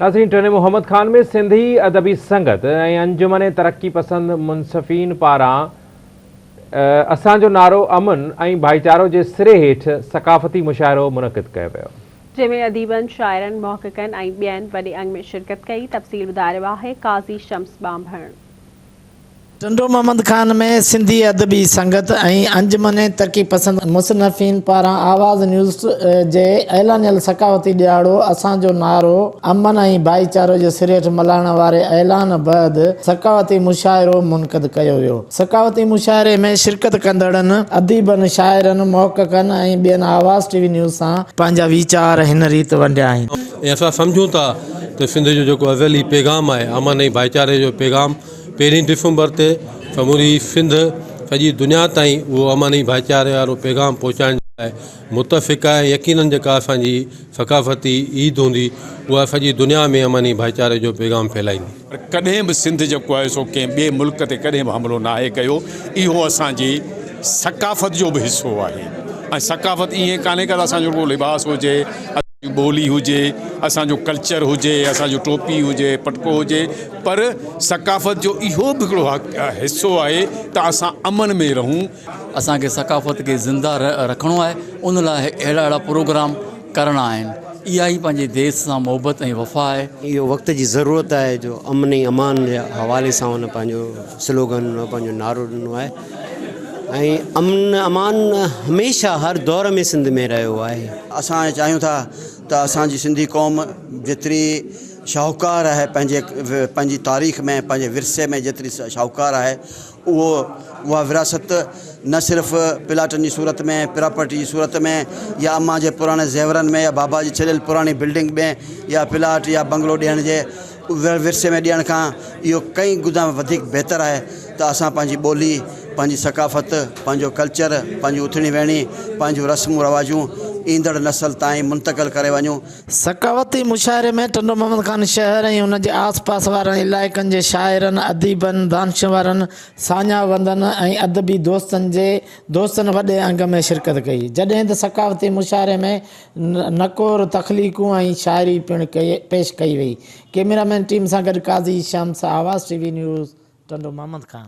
ناظرين ٽنڊي محمد خان ۾ سنڌي ادبي سنگت ۽ انجمن ترقي پسند منصفين پاران اسان جو نعرو امن ۽ ڀائيچارو جي سري هيٺ ثقافتي مشاعرو منعقد ڪيو ويو. جنهن ۾ اديبن، شاعرن، محققن ۽ ٻين وڏي انگ ۾ شرڪت ڪئي، تفصيل ٻڌائي رهيو آهي قاضي شمس ٻانڀڻ. ٽنڊو محمد خان ۾ سنڌي ادبي سنگت ۽ انجمن ترقي پسند مصنفين پاران آواز نيوز جي اعلانيل ثقافتي ڏهاڙو اسان جو نعرو امن ۽ ڀائيچارو جو سرهيٺ ملهائڻ واري اعلان بعد ثقافتي مشاعرو منعقد ڪيو ويو ثقافتي مشاعري ۾ شرڪت ڪندڙن اديبن شاعرن محققن ۽ ٻين آواز ٽي وي نيوز سان پنهنجا ويچار هن ريت ونڊيا آهن. ۽ اسان سمجهون ٿا ته سنڌ جو جيڪو ازلي پيغام آهي امن ۽ ڀائيچاري جو پيغام پهرين ڊسمبر تي سموري سنڌ سڄي دنيا تائين اهو امن ۽ ڀائيچاري وارو پيغام پهچائڻ جي لاء متفقه آهي يقينن جيڪا اسان جي ثقافتي عيد هوندي اها سڄي دنيا ۾ امن ۽ ڀائيچاري جو پيغام ڦهلائيندي. پر ڪڏهن به سنڌ جيڪو آهي سو ڪنهن ٻئي ملڪ تي ڪڏهن به حملو ناهي ڪيو اهو اسان جي ثقافت جو به حصو آهي ۽ ثقافت ائين ڪانهي ڪا اسان جو رڳو لباس هجي. جي ٻولي هجي، اسان جو ڪلچر هجي، اسان جو ٽوپي هجي، پٽڪو هجي پر ثقافت جو اهو به هڪڙو حصو آهي ته اسان امن ۾ رهون. اسان کي ثقافت کي زنده رکڻو آهي ان لاء اهڙا اهڙا پروگرام ڪرڻا آهن. اها ئي پنهنجي ديس سان محبت ۽ وفا آهي. اهو وقت جي ضرورت آهي جو امن ۽ امان جي حوالي سان هن پنهنجو سلوگن پنهنجو نعرو ڏنو آهي. ۽ امن امان هميشه هر دور ۾ سنڌ ۾ رهيو آهي. اسان چاهيون ٿا ته اسان جي سنڌي قوم جيتري شاهوڪار آهي پنهنجي پنهنجي تاريخ ۾ پنهنجي ورثي ۾ جيتري شاهوڪار آهي اهو اها ورهاست نه صرف پلاٽن جي صورت ۾ پراپرٽي جي صورت ۾ يا امان جي پراڻي زيورن ۾ يا بابا جي ڇڏيل پراڻي بلڊنگ ۾ يا پلاٽ يا بنگلو ڏيڻ جي اڀريل ورثي ۾ ڏيڻ کان اهو ڪئين گنا وڌيڪ بهتر آهي ته اسان پنهنجي ٻولي، پنهنجي ثقافت، پنهنجو ڪلچر، پنهنجون اٿڻي ويهڻي، پنهنجون رسمون رواجون ايندڙ نسل تائين منتقل ڪري وڃون. ثقافتي مشاعري ۾ ٽنڊو محمد خان شهر ۽ ان جي آس پاس وارن علائقن جي شاعرن، اديبن، دانشورن، ساڃاهوندن ۽ ادبي دوستن جي دوستن وڏي انگ ۾ شرڪت ڪئي، جڏهن ته ثقافتي مشاعري ۾ نڪور تخليقون ۽ شاعري پڻ پيش ڪئي وئي. ڪيميرا مين ٽيم سان گڏ Qazi Shams, Awaz T V news, Tando Muhammad Khan.